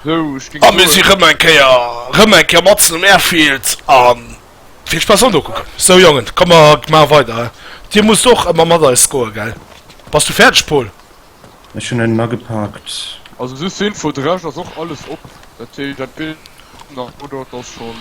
A mir si rëm eng Kéier, rëm eng Kéier matzen um Airfield a vill Spaass an Dokucken. Sou Jongen, komm mer maache weider. Dir musst och ëmmer mat eis scoe gell? Bass du fäerdeg Paul? Ech hunn en agepaakt. Also just zur Info, de Rescht ass och alles op, dat heescht entweder oder et ass schon.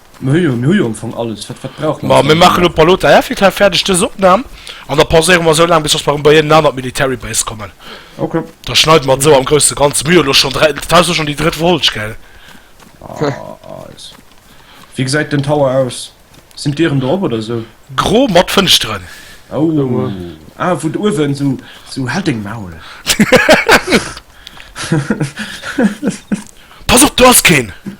Mir hu jo, mir hu jo am Fong alles, wat, wat brauche mer? Ma mir maachen elo Palote Airfield-Haff fäerdeg, dës Opnam, an da pauséiere mer esou laang, bis dass mer erëm bei een aner Military Base kommen. Ok. Da schneide mer et esou am grousse Ganze. Mir hu jo elo schonn dräi, dat Haus ass schonn déi drëtt Folg, gell? Nice. Wéi gesäit den Tower aus? Sinn d'Dieren drop oder esou? Gro mat Fënschteren. Oh, ah, wou et uewen esou, esou, halt deng Maul! Pass op, do ass keen!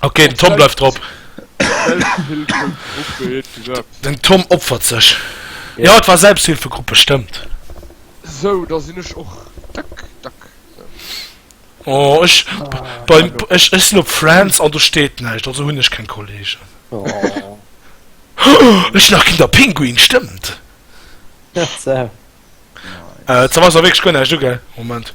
Okay, den Tom bleift drop. Den Tom opfert sech. Ja, et war Selbsthilfegruppe, stëmmt. Sou, da sinn ech och dack, dack. Oh, ech, beim, ech, ech sinn op Friends an do steet näischt, also hunn ech keng Kollegen. Ech nach ginn der Pinguin, stëmmt. Äh, et ass awer wierklech guer näischt do, gell? Moment.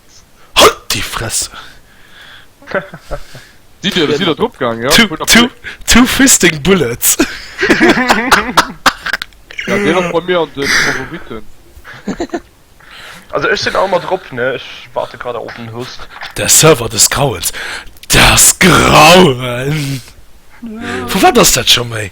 Halt déi Fress! Sidd dir sidd der drop gaang ja? Two, two, two fisting bullets! Ja deen ass bei mir an den Favoriten. Also ech sinn all mat drop ne, ech waarde grad nach op den Host. Der Server des Grauens! Das Grauen! Vu wat ass dat scho méi?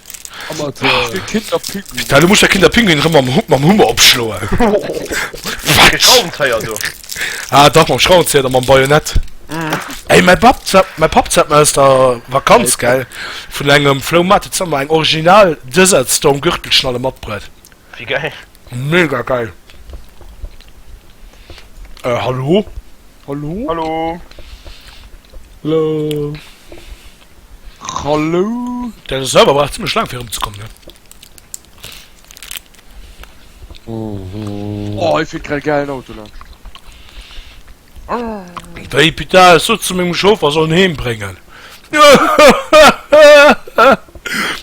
Da du musst der Kinder Pinguin rëm am Hupp mam Hummer opschloen. Schraubenzéier do. Ah dach mam Schraubenzéier da mam Bajonett. Ey mäi Bab sat mäi Papp sat mer aus der Vakanz gell vun engem Flouhmaart huet sat mer eng original Desert Storm Gürtelschnalle matbruet. Wéi geil. Mega geil. Hallo? Hallo? Hallo? Hallo? Hallo. Der Server brauch ziemlech lang fir rumzekommen ne. Mhm. Oh, ich find grad geilen Auto ne. Wéi Pita es sot zu mengem Chauffer sollen heem bréngen.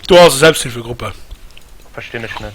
Du hast Selbsthilfegruppe. Verstinn ech net.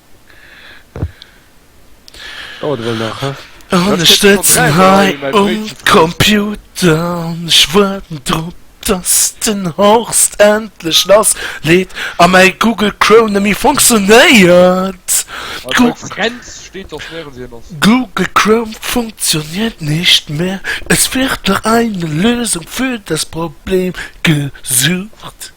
Dauert ewell nach, hä? An ech sëtzen hei um Computer an ech woarden drop dass den Horst endlech lass leet a mäi Google Chrome nemmi funktionéiert. Google Chrome funktioniert nicht mehr, es wird nach eine Lösung für das Problem gesucht.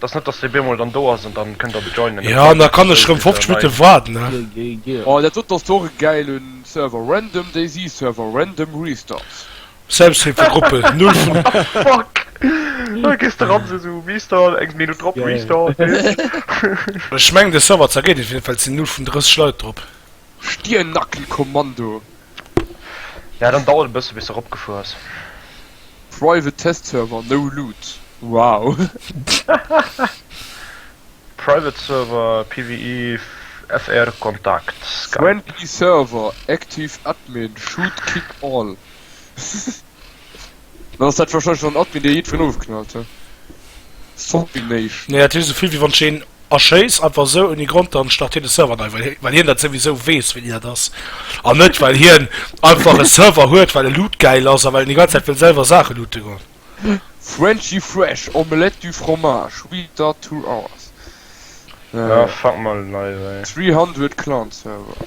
Dass net dass dee bemol dann do ass an dann kënnt der joinen. Jo an da kann ech rem 50 Minutten waarden ne. Oh dat dot ass doch e gäilen Server, random DayZ Server, random Restarts. Samstream fir Gruppen, null vun. Fuck! Elo gees de ran sou sou Restart, eng Minutt drop Restart, weess. Ech mengen de Server zergeet net, op jiddefalls sinn null vun 30 Leit drop. Stiernackenkommando, Ja dann dauert e bësse bis se ropgefuer ass. Private Test Server no Loot wow. Private Server PvE FR Kontakt Skype. Friendly Server Active Admin Shoot Kick All. Dann ass dat wahrscheinlech dann Admin dee jiddween ofgeknallt huet. Zombie-Nation. Nee, dat huet esou vill wéi wann ech een erschéiss, einfach esou ouni Grond, dann start hien de Server nei, well well hien dat souwisou weess wéini dat ass an net well hien einfach e Server huet well e Loot gäil ass a well en déi ganz Zäit wëll selwer Saache loote goen. Frenchy Fresh, Omelette du Fromage, We Start Two Hours. Aah fuck, mol en neie wei. 300 Clan Server.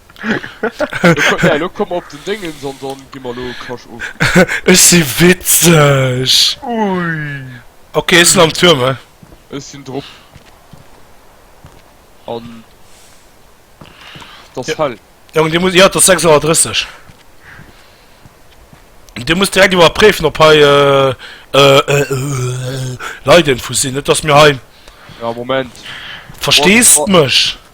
Ja, elo komm mer op den Déngens an dann gi mer elo Kasch of. Ech si witzeg! Ok, ech sinn am Tuerm, hä? Ech sinn drop. An et ass hell. Jong, dir musst, jo, et ass 6 Auer 30. Dir musst direkt iwwerpréifen, ob hei Leidinfus sinn, net datt mir hei. Ja, Moment. Verstees mech?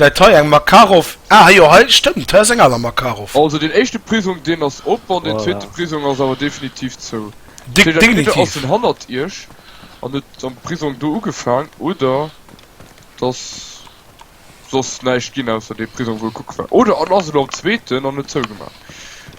läit hei eng Makarov, ah jo hei stëmmt, hei ass eng aner Makarov. Also deen éischte Prisong deen ass op an deen zweete Prisong ass awer definitiv zou. Dat heescht entweder ass en hannert iech an huet am Prisong do ugefaang oder et ass soss näischt ginn ausser dee Prisong wou e kucke war oder en ass elo am zweeten an huet zougemaach.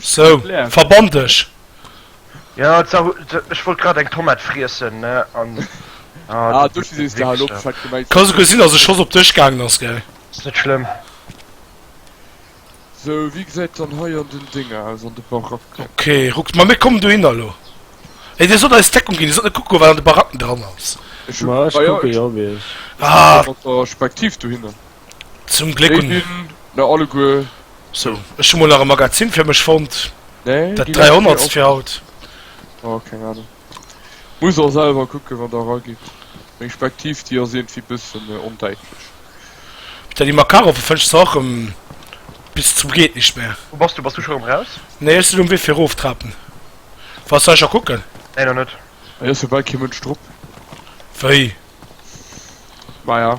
So, verbann dech! Jo, ech wollt grad eng Tomate friessen, ne, an. Kann souguer sinn, dass e Schoss op dech gaangen ass, gell? Ass net schlëmm. Ok, ruckt mer, mir kommen dohinner elo. Hei, dir sollt eis Deckung ginn, dir sollt net kucke goen, wat an de Baracken dran ass. Ech kucke jo, wéi ech. Ah! Zum Gléck hun. Déi sin mer alleguer. So, ech hu mol nach e Magazin fir mech fonnt. Nee, dat 300 fir haut. Oh, keng Ahnung. Muss der selwer kucken, wann der eragitt. Meng Spektiv, déi ass iergendwéi bëssen ondäitlech. D'Dani Makaroff fënschs se och rëm bis zum geet nischt mehr. Wou bass du? Bass du scho rëm raus? Nee, ech sin um Wee fir eroftrapen. Wars de hei scho kucken? Nee, nach net. Hei ass jo bal kee Mënsch drop. Wéi? Maja.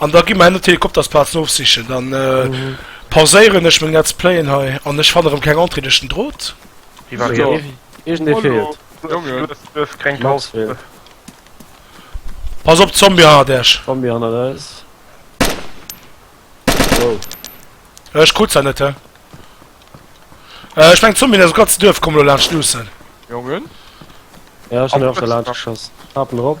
An da gi mer ennert d'Helikoptersplazen ofsichen. Dann pauséieren ech meng Let's Playen hei an ech fannen erëm keng Entrée duerch den Drot. Hie war riets. Iergendee feelt. Jongen, et duerf keng Max feelt. Pass op, Zombie hannert Äech! Zombie hannert eis. Wow. Ech krut se net, hä? Ech mengen d'Zombien aus dem ganzen Duerf kommen elo laanscht luussen. Jongen. Ja, ech hunn en och scho laanscht geschoss. Hapen erop.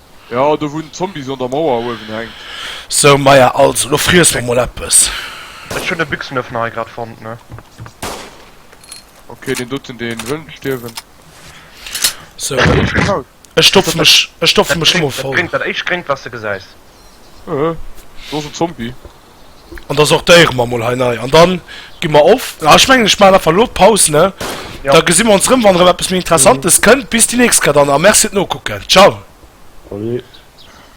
Jo do wou den Zombie an der Mauer uewen hänkt. Sou Maya, also lo friess mer mol eppes. Ech hun e Büchsenöffner hei grad fonnt ne. Ok deen doten deen wëll net stierwen. Sou ech stopfen mech, ech stopfen mech lo mol voll. Dat éischt gréngt wat s de gesäis. Hehe do ass en Zombie. An da sortéiere mer emol hei nei. An da gi mer of. Ah, ech mengen, ech maachen einfach elo d'Paus, ne? Ja. Da gesi mer ons erëm, wann erëm eppes méi Interessantes kënnt. Bis déi nächst kéier dann a merci fir d'Nokucken. Ciao. Salut.